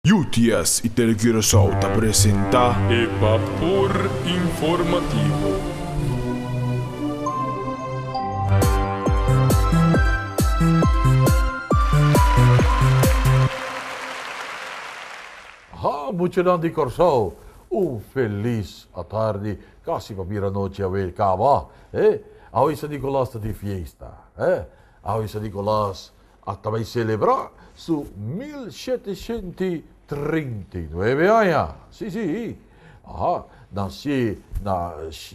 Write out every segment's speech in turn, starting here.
UTS y Tele Curaçao ta presenta. E Bapor Informativo. Ha muchanan di Corsao un felis atardi casi pa bira nochi awe caba eh awe San Nicolas ta di fiesta eh awe San Nicolas a ta bai selebrá su mil shete shente i treinta i nuebe aña. Sí, sí, a nasié na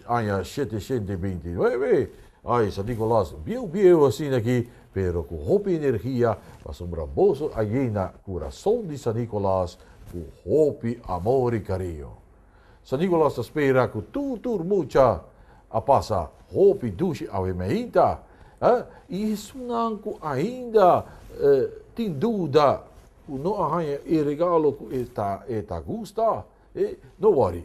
aña shete shente i binti i nuebe. Ay, San Nicolás bieu bieu asina aki, pero ku hopi energia, pasobra boso a yena kurason di San Nicolás ku hopi amor i kariño. San Nicolas ta spera cu tur tur mucha a pasa hopi dushi awe meinta. Eh? Y esunnan cu ainda eh, tin duda cu no a hanja e regalo cu e ta, e ta gusta, eh, no worry.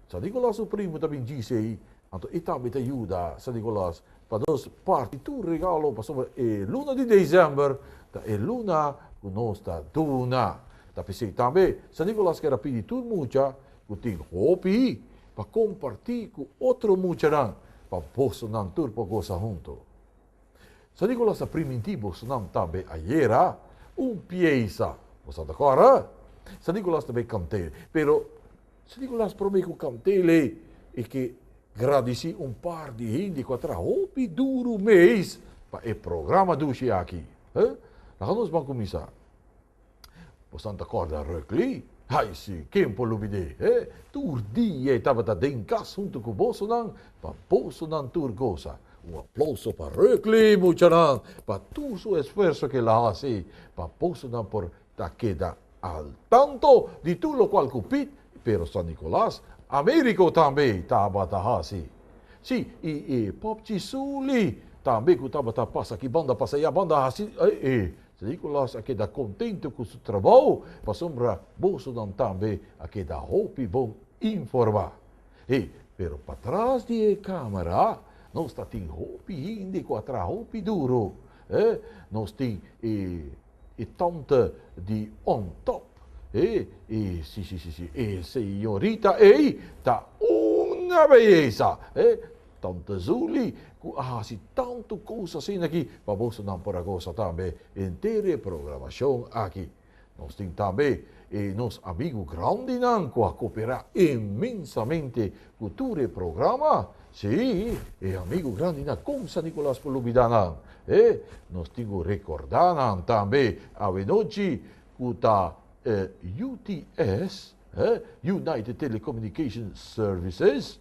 San Nicolas su primo ta bin djis ei, Anto i tambe ta yuda San Nicolas pa nos parti tur regalo pasobra e luna di december ta e luna cu nos ta duna. Ta p'esey tambe San Nicolas keda pidi tur mucha cu tin hopi pa comparti cu otro muchanan pa bosonan tur por goza hunto. San Nicolas ta primintí bosonan tambe ayera un piesa. Bo sa ta kòrda? San Nicolas ta bai kant'ei. Pero San Nicolas promé ku kant'el ei i ke gradisí un par di hende ku a traha hopi duru mes pa e programa dushi aki. Laga nos ban kuminsá. Bosan ta corda Rökli? Ai si, ken por lubid'é, he? Tur dia e tabata den cas huntu cu bosonan, pa bosonan tur gosa. Un aplauso pa Rökli, muchanan, pa tur su esfuerso cu el a haci pa bosonan por ta keda al tanto di tur locual cu Piet, Pero San Nicolas, Americo tambe tabata haci. Si, i e popchi Suli tambe cu tabata pasa aki banda, pasa ya banda haci, he? So Nicolas a keda kontento ku su trabou pasobra bosonan tambe a keda hopi bon informá. He, pero patras di e kámara nos ta tin hopi hende ku a traha hopi duro. He, nos tin e e tante di on top. He, e si si si si e señorita ei ta una beyesa. He, Tante Zuli cu a haci tanto cos asina aki pa bosonan por a goza tambe henter e programacion aki. Nos tin tambe e nos amigo grandinan cu a coopera inmensamente cu tur e programa, si, e amigo grandi na con San Nicolas por lubida nan e nos tin cu recorda nan tambe awenochi cu ta UTS. United Telecommunication Services,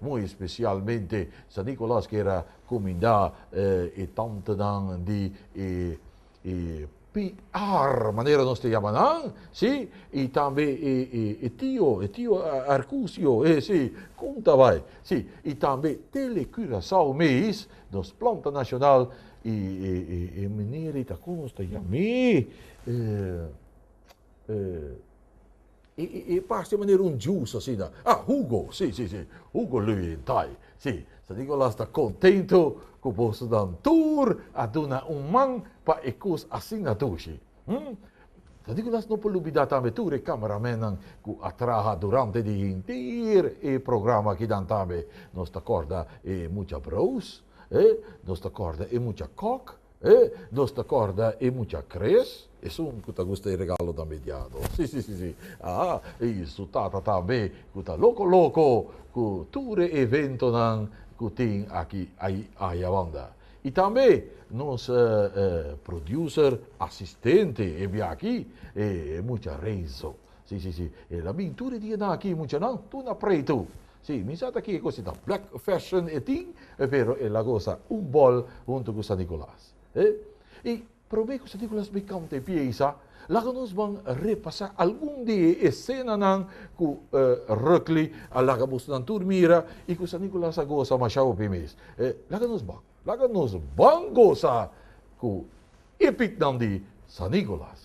muy especialmente San Nicolas que era cuminda e tantenan di e PR, manera nos ta yama nan, si, y tambe e tio, e tio Arcucio, si, cunta bay, si, y tambe Tele Curacao mes, nos planta nacional, y e manera y ta con nos ta yam'e. E parse manera un juice asina. Ah, hugo, si, si, si. Hugo Löwenthal, si. San Nicolas ta contento cu boso nan tur a duna un man pa e cos asina dushi. Hm? San Nicolas no por lubida tambe tur e cameramennan cu a traha durante di henter e programa akinan tambe. Nos ta corda e mucha broos, eh? Nos ta corda e mucha kok, E nos ta corda e mucha Chris, esun cu ta gusta e regalo tambe e diado. Si, si, si, si. Aa, y su tata tambe cu ta loco, loco cu tur e eventonan cu tin aki ay, ayabanda. Y tambe nos e, e producer asistente e bia aki, e mucha Renzo. Si, si, si. El a bin tur e dianan aki, muchanan, tur na pretu. Sí, mi sa ta kiko si ta black fashion e tin, pero el a gosa un bòl huntu ku San Nikolas. E, i promé ku San Nikolas bai kanta e piesa, laga nos ban repasá algun di e esenanan ku Rukli a laga bosonan tur mira i ku San Nikolas a gosa mashá hopi mes. E, laga nos ban, laga nos ban gosa ku epiknan di San Nikolas.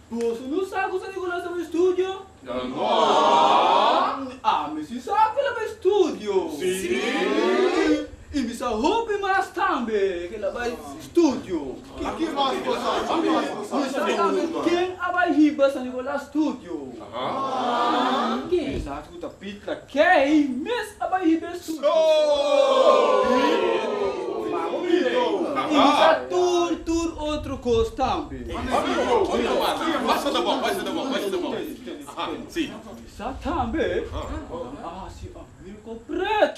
Boso no sa cu esaki cu nos ta estudio? No! Ami si sa cu elaba estudio. Sí! Y mi sa hopi mas tambe cu elaba estudio. Aki mas cu sa, aki mas cu sa. Mi sa tambe ken a bay hiba San Nicolas Studio. Ken? cu ta pitla key mes a bai hiba e susu. Y ta tur tur otro cos tambe. Sa tambe nan a haci a Mirco pret.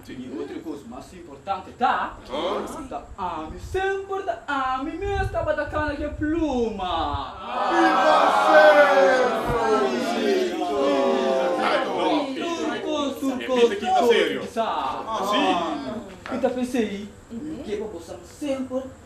Tin e otro cos mas importante, ta? Ta ami, semper ta ami mes tabata cana cu e pluma. Viva Sandro!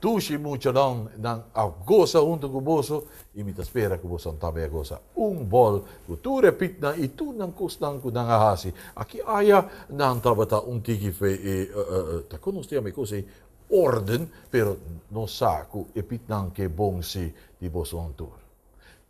Tushi muchadon nan a gosa huntu ku boso i mi ta spera ku boson tambe a gosa un bòl ku tur e pitnan i tur nan kosnan ku nan a hasi. Aki aya nan tabata un tiki fe i ta konos tin ami kos ei órden, pero nos sa ku e pitnan ke bon si di boson tur.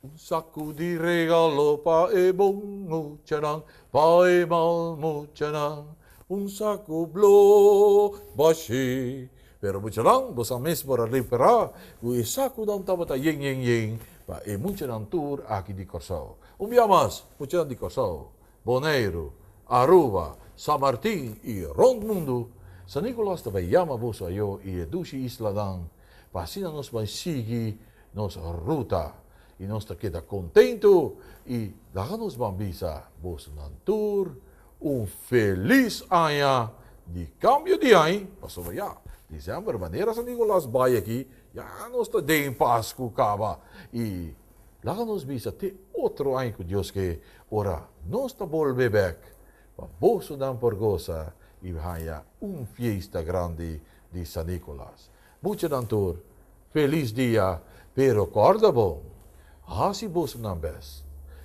Un saku di regalo pa e bon muchanan, pa e mal muchanan, un saku blo bashé. Pero muchanan, boso a mes por a repará ku e sakunan tabata yen yen yen pa e muchanan tur aki di Kòrsou. Un bia mas, muchanan di Kòrsou, Boneiru, Aruba, San Martin i rònt mundu, San Nikolas ta bai yama boso ayó i e dushi islanan Pa asina nos bay sigui nos ruta y nos ta keda contento y laga nos ban bisa bosonan tur un feliz aña di cambio di hay pasobra ya December manera San Nicolas bay aki ya nos ta den Pascu caba y laga nos bisa te otro aña cu Dios ke ora nos ta bolbe bek Pa bosonan por gosa i haña un fiesta grandi di San Nicolas. Muchanan tur, felis dia, pero kòrda bon, hasi bosonan bes.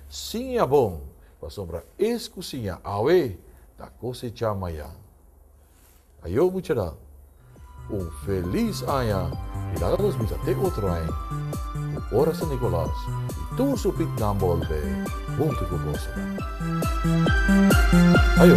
Siña bon, pasobra es ku siña awe, ta kosechá mañan. Ayo muchara, un felis aña i laga nos bisa te otro aña ku ora San Nikolas i tur su pitnan bolbe huntu ku bosonan. Ayo.